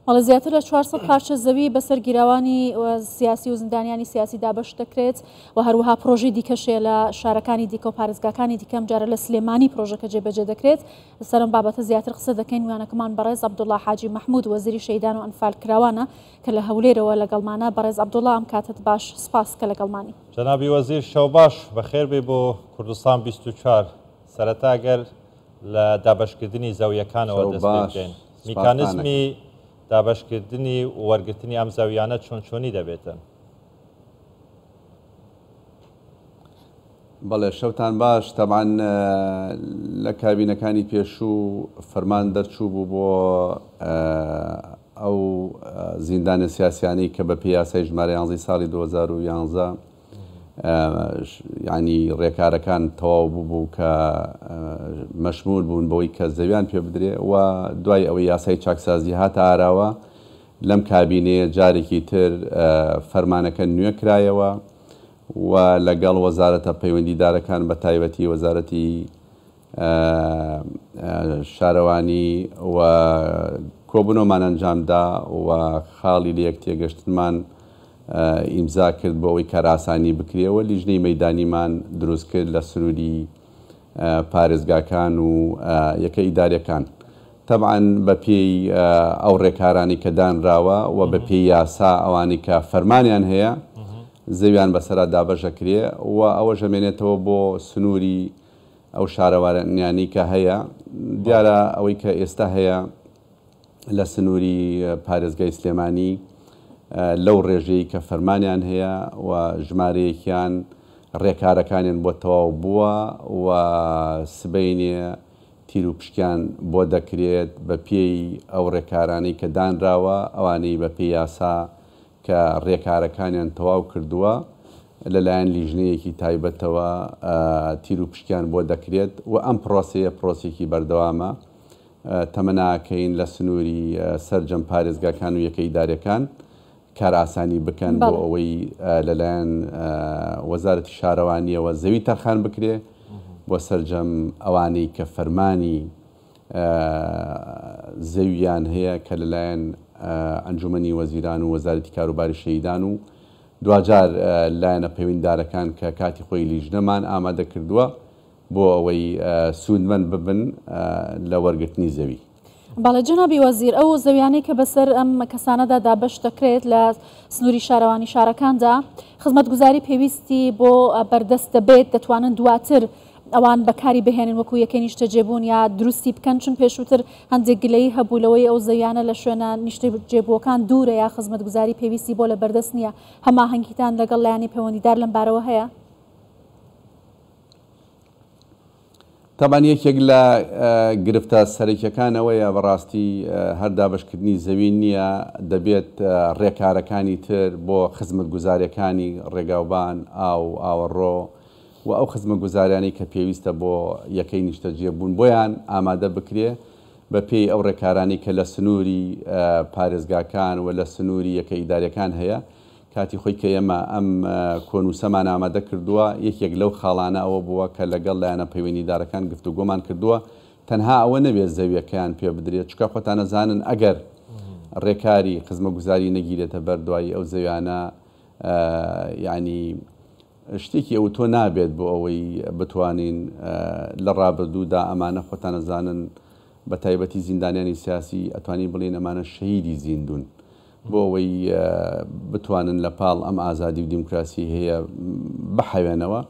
بەڵێ زیاتر لە چوار سەد پارچە زەوی بەسەر گیراوانی سیاسی و زندانیانی سیاسی دابەش دەکرێت و هەروەها پرۆژی دیکەشێ لە شارەکانی دیکە و پارێزگاکانی دیکەم جارە لە سلێمانی پرۆژەکە جێبەجێ دەکرێت لەسەرم بابەتە زیاتر قسە دەکەین ویانەکەمان بەڕێز عبدوڵا حاجی مححمود وەزیری شەیدان و ئەنفال کراوانە کە لە هەولێرەوە لەگەڵمانە بەڕێز عبدوڵا ئەم کاتت باش سپاس کە لەگەڵمانی جەنابی وەزیر شەوباش بەخێربێ بۆ کوردستان 24 سەرەتا گەر لە دابەشکردنی زەویەکانەوە دەست پێ بکەین. میکانزمی دابەشکردنی و وەرگرتنی ئەم زەویانە چۆن چۆنی دەبێتن؟ بەڵێ شەوتان باش تەبعەن لە کابینەکانی پێشوو فەرمان دەرچوو بوو بۆ ئەو زیندانە سیاسیانەی کە بە پێ یاسای ژمارە یانزەی ساڵی دوو هەزار و یانزە یانی ڕێکارەکان تەواو ببوو کە مەشمول بوون بەوەی کە زەویان پێ بدرێ و دوای ئەوەی یاسای چاکسازی هاتە ئاراوە لەم کابینەیە جارێکی تر فەرمانەکە نوێ کرایەوە و لەگەڵ وەزارەتە پەیوەندیدارەکان بە تایبەتی وەزارەتی شارەوانی و کۆبوونەوەمان ئەنجامدا و خاڵی لێکتێگەشتنمان ئیمزا کرد بۆ ئەوەی کارئاسانی بکرێ و لیژنەی مەیدانیمان دروست کرد لە سنووری پارێزگاکان و یەکە ئیداریەکان تەبعەن بە پێی ئەو ڕێکارانەی کە دانراوە و بە پێی یاسا ئەوانەی کە فەرمانیان هەیە زەویان بەسەرا دابەش ئەکرێ و ئەوەش ئەمێنێتەوە بۆ سنووری ئەو شارەوانیانەی کە هەیە دیارە ئەوەی کە ئێستا هەیە لە سنووری پارێزگای سلێمانی لەو ڕێژەی کە فەرمانیان هەیە و ژمارەیەکیان ڕێکارەکانیان بۆ تەواو بووە و سبەینێ تیروپشکیان بۆ دەکرێت بە پێی ئەو ڕێکارانەی کە دانراوە ئەوانەی بە پێی یاسا کە رێکارەکانیان تەواو کردووە لەلایەن لیژنەیەکی تایبەتەوە تیروپشکیان بۆ دەکرێت و ئەم پرۆسەیە پرۆسەیەکی بەردەوامە تەمەناکەین لە سنووری سەرجەم پارێزگاکان و یەکە ئیدارەکان کارئاسانی بکەن بۆ ئەوەی لەلایەن وەزارەتی شارەوانیەوە زەوی تەرخان بکرێ بۆ سەرجەم ئەوانەی کە فەرمانی زەوییان هەیە کە لەلایەن ئەنجوومەنی وەزیران و وەزارەتی کاروباری شەهیدان و دواجار لایەنە پەیوەنددارەکان کە کاتی خۆی لیژنەمان ئامادە کردووە بۆ ئەوەی سوودمەند ببن لە وەرگرتنی زەوی. بەڵێ جەنابی وەزیر، ئەو زەویانەی کە بەسەر ئەم کەسانەدا دابەش دەکرێت لە سنووری شارەوانی شارەکاندا، خزمەتگوزاری پێویستی بۆ بەردەست دەبێت، دەتوانن دواتر ئەوان بەکاری بهێنن وەکو یەکەی نیشتەجێبوون یا دروستی بکەن، چون پێشووتر هەندێک گلەیی هەبوو لەوەی ئەو زەویانە لە شوێنە نیشتەجێبووەکان دوورە یا خزمەتگوزاری پێویستی بۆ لە بەردەست نییە، هەماهەنگیتان لەگەڵ لایەنی پەیوەندیدار لەم بارەوە هەیە؟ تەبعەن یەکێک لە گرفتە سەرەکیەکان ئەوەیە بەڕاستی هەر دابەشکردنی زەوی نییە دەبێت ڕێکارەکانی تر بۆ خزمەتگوزاریەکانی ڕێگاوبان، ئاو، ئاوەڕۆ، و ئەو خزمەتگوزاریانەی کە پێویستە بۆ یەکەی نیشتەجێ بوون بۆیان ئامادە بکرێ بە پێی ئەو ڕێکارانەی کە لە سنووری پارێزگاکان و لە سنووری یەکە ئیداریەکان هەیە کاتی خۆی کە ئێمە ئەم کۆنووسەمان ئامادە کردووە یەکێک لەو خاڵانە ئەوە بووە کە لەگەڵ لایەنە پەیوەندیدارەکان گفتوگۆمان کردووە تەنها ئەوە نەبێت زەویەکەیان پێ بدرێت چکە خۆتان ئەزانن ئەگەر ڕێکاری خزمەتگوزاری نەگیرێتە بەر دوایی ئەو زەویانە یانی شتێکی ئەوتۆ نابێت بۆ ئەوەی بتوانین لە ڕابردوودا ئەمانە خۆتان ئەزانن بە تایبەتی زیندانیانی سیاسی ئەتوانین بڵێین ئەمانە شەهیدی زیندوون بۆ ئەوەی بتوانن لە پاڵ ئەم ئازادی و دیموکراسی هەیە بحەوێنەوە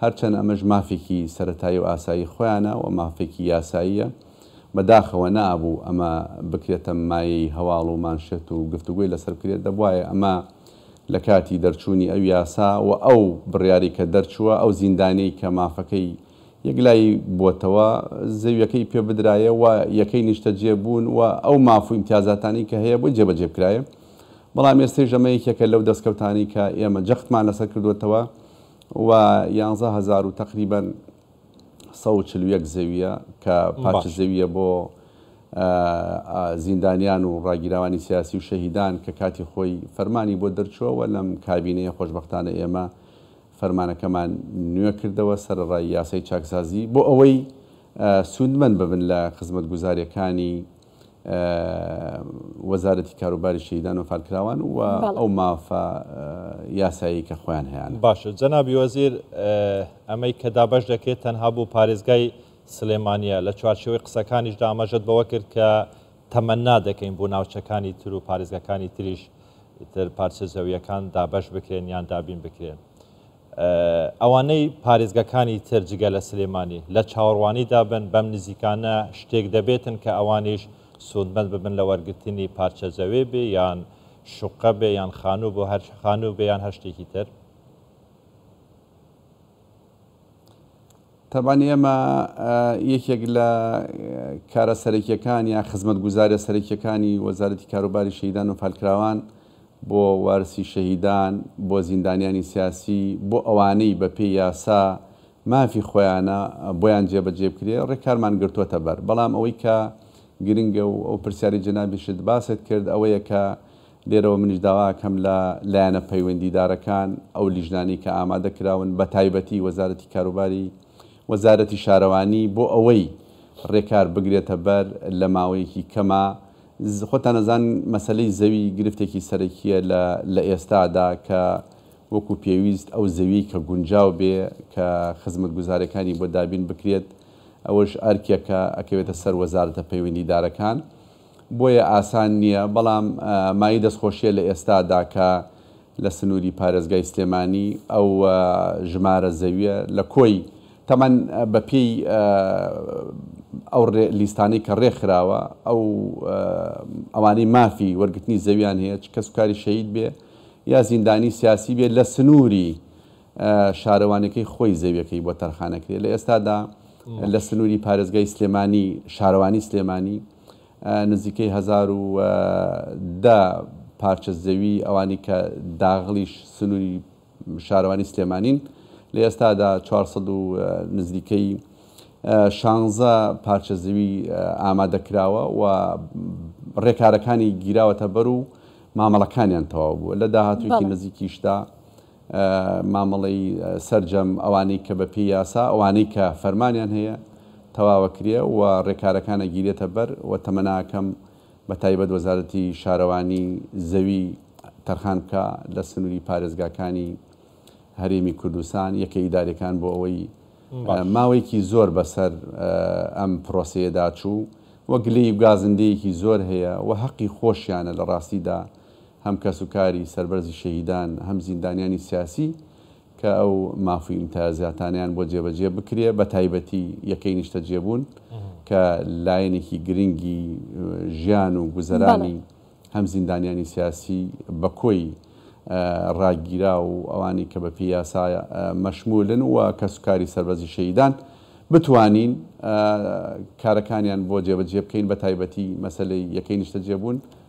هەرچەند ئەمەش مافێکی سەرەتایی و ئاسایی خۆیانە و مافێکی یاساییە بەداخەوە نەئابوو ئەمە بکرێتە مایەی هەواڵ و مانشێت و گفتوگۆی لەسەر بکرێت دەبوایە ئەمە لە کاتی دەرچوونی ئەو یاسا و ئەو بڕیارەی کە دەرچووە، ئەو زیندانیەی کە مافەکەی یەکلایی بووەتەوە، زەویەکەی پێ بدرایە و یەکەی نیشتەجێ بوون و ئەو ماف و ئیمتیازاتانەی کە هەیە بۆی جێبەجێ بکرایە. بەڵام ئێستەیش ئەمە یەکێکە لەو دەستکەوتانەی کە ئێمە جەختمان لەسەر کردووەتەوە و یانزە هەزار و تەقریبەن. سەد و چل و یەک زەوییە کە پارچە زەوییە بۆ زیندانیان و ڕاگیراوانی سیاسی و شەهیدان کە کاتی خۆی فەرمانی بۆ دەرچووە و لەم کابینەیە خۆشبەختانە ئێمە فەرمانەکەمان نوێ کردەوە سەرەڕای یاسای چاکسازی بۆ ئەوەی سوودمەند ببن لە خزمەتگوزارییەکانی وەزارەتی کاروباری شەهیدان و فالکراوان و ئەو مافە یاسایەی کە خۆیان هەیانە. باشە جەنابی وەزیر ئەمەی کە دابەش دەکرێت تەنها بۆ پارێزگای سلێمانیە، لە چوارچێوەی قسەکانیشدا ئاماژەت بەوە کرد کە تەمەنا دەکەین بۆ ناوچەکانی تر و پارێزگاکانی تریش ئیتر پارچە زەوییەکان دابەش بکرێن یان دابین بکرێن. ئەوانەی پارێزگەکانی تر جگە لە سلێمانی لە چاوەڕوانیدا بن، بەم نزیکانە شتێک دەبێتن کە ئەوانیش سوودمەند ببن لە وەرگرتنی پارچە زەوێ بێ یان شوقە بێ یان خانوو بۆ هەر خانوو بێ یان هەر شتێکی تر. تەبعەن ئێمە یەکێک لە کارە سەرەکیەکان یا خزمەتگوزاریە سەرەکیەکانی وەزارەتی کاروباری شەهیدان و فالکراوان بۆ وارسی شەهیدان، بۆ زیندانیانی سیاسی، بۆ ئەوانەی بە پێی یاسا مافی خۆیانە بۆیان جێ بە جێ بکرێ ڕێکارمان گرتۆتە بەر بەڵام ئەوەی کە گرنگە و ئەو پرسیاری جەنابیشت باست کرد ئەوەیە کە لێرەوە منیش داوا ئەکەم لە لایەنە پەیوەندیدارەکان، ئەو لیژنانەی کە ئامادە کراون بە تایبەتی وەزارەتی کاروباری، وەزارەتی شارەوانی بۆ ئەوەی رێکار بگرێتە بەر لە ماوەیەکی کەما، خۆتان ئەزان مەسەلەی زەوی گرفتێکی سەرەکیە لە لە ئێستادا کە وەکو پێویست ئەو زەویەی کە گونجاو بێ کە خزمەتگوزارەکانی بۆ دابین بکرێت ئەوەش ئەرکێکە ئەکەوێتە سەر وەزارەتە پەیوەندیدارەکان. بۆیە ئاسان نییە، بەڵام مایەی دەستخۆشییە لە ئێستادا کە لە سنووری پارێزگای سلێمانی ئەو ژمارە زەوییە لە کۆی تەمەن بە پێی ئەو لیستانەی کە رێکخراوە ئەو ئەوانەی مافی وەرگرتنی زەوییان هەیە چ کەسوکاری شەهید بێ یا زیندانیی سیاسی بێ لە سنووری شارەوانیەکەی خۆی زەویەکەی بۆ تەرخانەکرێت لە ئێستادا لە سنوری پارێزگای سلێمانی شارەوانی سلێمانی نزیکەی هەزار و دە پارچە زەوی ئەوانی کە داغڵیش سنوری شارەوانی سلێمانین لە ئێستادا 400 و نزیکەی شانزە پارچە زەوی ئامادەکراوە و ڕێکارەکانی گیراوەتە بەر و مامەڵەکانیان تەواو بووە لە داهاتوویەکی نزیکیشدا مامەڵەی سەرجەم ئەوانەی کە بەپێی یاسا، ئەوانەی کە فەرمانیان هەیە تەواوە کرێ و رێکارەکان ئەگیرێتە بەر و تەمەناکەم بە تایبەت وەزارەتی شارەوانی زەوی تەرخان بکا لە سنوری پارێزگاکانی هەرێمی کوردستان، یەکە ئیداریەکان بۆ ئەوەی ماوەیەکی زۆر بەسەر ئەم پرۆسەیەدا چوو و گلەی و گازندەیەکی زۆر هەیە و هەقی خۆشیانە لە راستیدا هەم کەس و کاری سەربەرزی شەهیدان هەم زیندانیانی سیاسی کە ئەو ماف و ئیمتیازاتانەیان بۆ جێبەجێ بکرێ بە تایبەتی یەکەی نیشتەجێبوون کە لایەنێکی گرنگی ژیان و گوزەرانی هەم زیندانیانی سیاسی بە کۆی ڕاگیراو و ئەوانی کە بە پێی یاسا مەشمولن و کەس و کاری سەربەرزی شەهیدان بتوانین کارەکانیان بۆ جێبەجێ بکەین بە تایبەتی مەسەلەی یەکەی نیشتەجێبوون.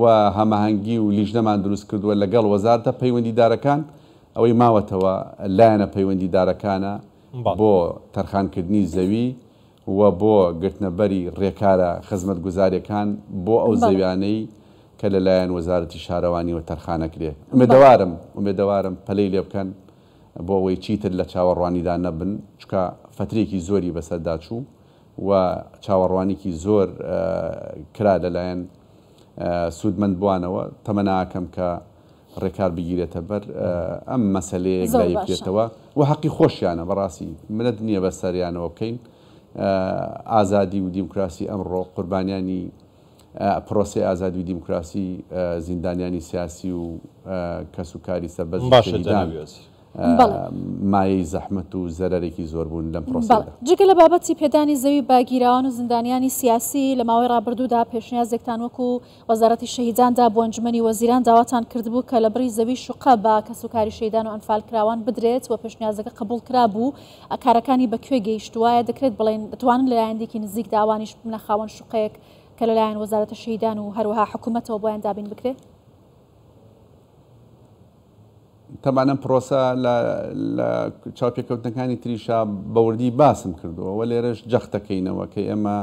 و هەماهەنگی و لیژنەمان دروست کردووە لەگەڵ وەزارەتە پەیوەندیدارەکان، ئەوەی ماوەتەوە لایەنە پەیوەندیدارەکانە بۆ تەرخانکردنی زەوی و بۆ گرتنەبەری رێکارە خزمەتگوزارییەکان بۆ ئەو زەویانەی کە لەلایەن وەزارەتی شارەوانییەوە تەرخانەکرێ، ئومێدەوارم ئومێدەوارم پەلەی لێ بکەن بۆ ئەوەی چیتر لە چاوەڕوانیدا نەبن، چونکە فەترەیەکی زۆری بەسەردا چوو و چاوەڕوانیکی زۆر کرا لەلایەن سوودمەندبووانەوە، تەمە ناکەم کە ڕێکار بگیرێتە بەر ئەم مەسەلەیەک زۆر باشە. دایبکرێتەوە و حەقی خۆشیانە بەڕاستی منەت نییە بەسەریانەوە بکەین ئازادی و دیموکراسی ئەمڕۆ قوربانیانی پرۆسەی ئازادی و دیموکراسی زیندانیانی سیاسی و کەس و کاری سەربەست و شەهیدان مایەی زەحمەت و زەرەرێکی زۆر بوون لەم پرۆسەیەدا. جگە لە بابەتی پێدانی زەوی بە گیراوان و زیندانیانی سیاسی، لە ماوەی ڕابردوودا پێشنیازێکتان وەکو وەزارەتی شەهیدان دا بۆ ئەنجومەنی وەزیران داواتان کردبوو کە لە بڕی زەوی شوقە بە کەس و کاری شەهیدان و ئەنفالکراوان بدرێت و پێشنیازەکە قبوڵ کرابوو، کارەکانی بە کوێ گەیشتووایە، دەکرێت بڵێین دەتوانن لە لایەندێکی نزیکدا ئەوانیش ببنە خاوەن شوقەیەک کە لەلایەن وەزارەتە شەهیدان و هەروەها حکوومەتەوە بۆیان دابین بکرێ؟ تەبعەن ئەم پڕۆسە لە لە چاوپێکەوتنەکانی تریشا بە وردی باسم کردووە و لێرەش جەخت دەکەینەوە کە ئێمە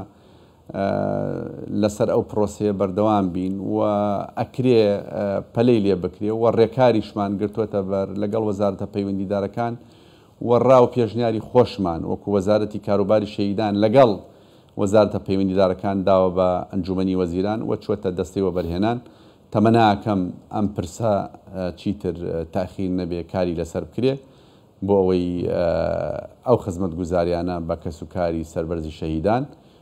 لەسەر ئەو پرۆسەیە بەردەوام بین و ئەکرێ پەلەی لێ بکرێ و ڕێکاریشمان گرتووەتە بەر لەگەڵ وەزارتە پەیوەندیدارەکان وەڕا و پێشنیاری خۆشمان وەکو وەزارەتی کاروباری شەهیدان لەگەڵ وەزارەتە پەیوەندیدارەکان داوە بە ئەنجومەنی وەزیران و چووەتە دەستەی وەبەرهێنان، تەمەناکەم ئەم پرسە چیتر تاخیر نەبێ کاری لەسەر بکرێ بۆ ئەوەی ئەو خزمەتگوزاریانە بە کەسوکاری سەربەرزی شەهیدان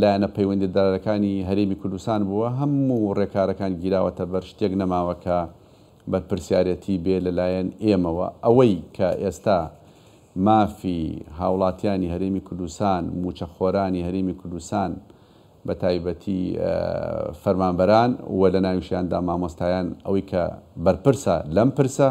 لایەنە پەیوەندیدارەکانی هەرێمی کوردستان بووە، هەموو ڕێکارەکان گیراوەتەبەر، شتێک نەماوە کە بەرپرسیارێتی بێ لەلایەن ئێمەوە، ئەوەی کە ئێستا مافی هاوڵاتیانی هەرێمی کوردستان، مووچەخۆرانی هەرێمی کوردستان بە تایبەتی فەرمانبەران و لەناویشیاندا مامۆستایان ئەوەی کە بەرپرسە لەم پرسە،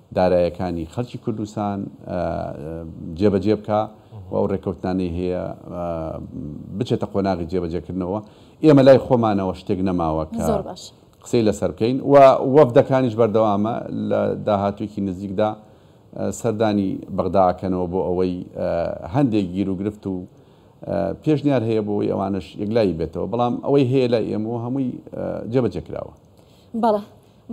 دارایەکانی خەلکی کوردستان جێبەجێ بکا و ئەو رێکەوتنانەی هەیە بچێتە قۆناغی جێبەجێکردنەوە ئێمە لای خۆمانەوە شتێک نەماوە کە قسەی لەسەر بکەین و وەفدەکانیش بەردەوامە لە داهاتوێکی نزیکدا سەردانی بەغدا ئەکەنەوە بۆ ئەوەی هەندێک گیر و گرفت و پێشنیار هەیە بۆ ئەوەی ئەوانش یەکلایی بێتەوە بەڵام ئەوەی هەیە لای ئێمەوە هەمووی جێبەجێ کراوە بەڵێ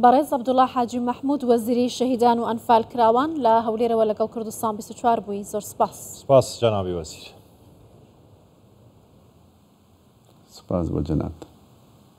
بەڕێز عبدوڵا حاجی مەحمود وەزیری شەهیدان و ئەنفال کراوان لە هەولێرەوە لەگەڵ کوردستان بیست و چوار بووی زۆر سپاس. سپاس جەنابی وەزیر. سپاس بۆ جەنابتان.